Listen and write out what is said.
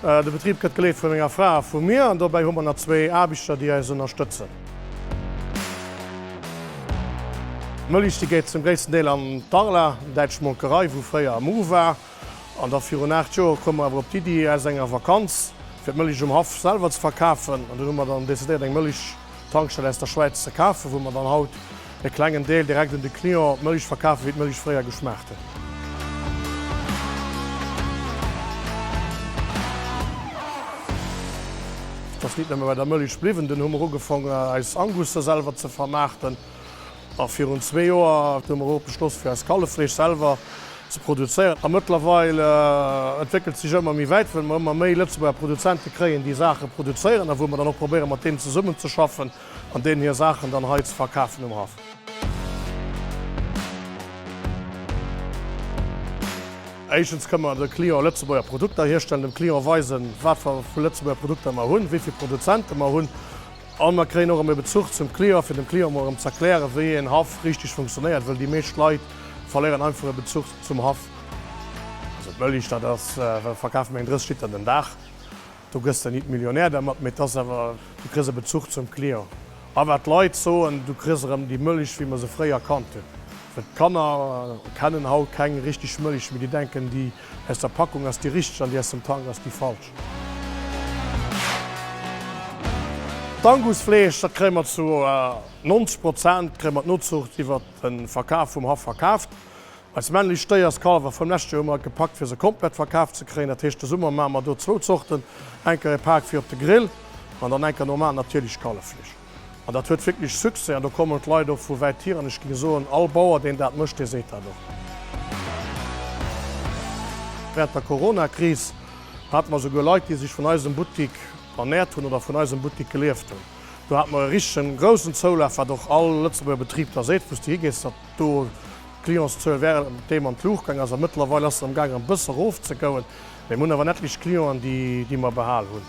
De Betrib gëtt geleet vu menger Fra a vu mir an dobäi hu mer nach zwee Aarbechter, déi eis ënnerstëtzen. D'Mëllechstie geet zum gréissten Deel an d'Arla, däitsch Molkerei, wou fréier Mu war. An da virun 8 Joer koum mer awer op d'Iddi, aus enger Vakanz fir d'Mëllech um Haff selwer ze verkafen. An dunn hu mer dann decidéiert, eng Mëllechtankstell aus der Schwäiz ze kafen, wou mer dann haut E klengen Deel direkt un de Client, d'Mëlich verkafen wéi d'Mëlich fréier geschmaacht huet. Et ass nit nëmme bei der Mëlich bliwwen, dunn hu mer ugefongen eis Angusser selwer ze vermaarten a virun zwee Joer hu mer och beschloss fir eist Kalleffleesch selwer ze produzéieren. A mëttlerweil entwéckelt sech ëmmer méi wäit, well mer ëmmer méi Lëtzebuerger Produzente kréien, déi Saache produzéieren a wou mer dann och probéiere mat deenen zesummenzeschaffen. An deenen hir Saachen dann hei ze verkafen um Haff. Éischtens kënne mer de Clienten Lëtzebuerger Produkter hierstellen, dem Client weisen, wat fir vu Lëtzebuerger Produkter mer hunn, wéi vill Produzente mer hunn. A mer kréien och erëm e Bezuch zum Client, fir dem Client emol erëm ze erklären, wéi een Haff richteg funktionéiert, well déi meescht Leit verléieren einfach e Bezuch zum Haff. Also d'Mëlich, dat ass, wat verkafe mer? Eng 30 Liter den Dag. Du gëss der nit Millionär dermat, mee 't ass awer, du kriss e Bezuch zum Client. A wat d'Leit soen, du kriss erëm déi Mëlich, wéi mer se fréier kannt hunn. Well d'Kanner kennen haut keng richteg Mëlich, mee déi denken, déi aus der Packung ass déi richteg an déi aus dem Tank ass déi falsch. D'Angusfleesch, dat kréie mer zu 90 Prozent kréie mer d'Nozuucht iwwert de Verkaf vum Haff verkaaft. Eis männlech Stéierskalwer vum lescht Joer hu mer gepackt fir se komplett verkaf ze kréien. Dat heescht de Summer maache mer do zwou Zorten, enker e Paak fir op de Grill an dann enker normal natierlecht Kalleffleesch. An dat huet wierklech Succès an do kommen d'Leit och vu wäit hier an ech géing soen all Bauer deen dat mécht, dee seet dat och. Wärend der Coronakris hate mer souguer Leit déi sech vun eisem Buttik ernährt hunn oder vun eisem Buttik gelieft hunn. Do hate mer e richtegen groussen Zoulaf wat och all Lëtzebuerger Betrib da seet, wou s de higees dat do D'Clientszuel während deem an d'Luucht gaang ass, a mëttlerweil ass se am gaang e bësse erof ze gouen, mee mir hunn awer en etlech Clienten, déi mer behal hunn.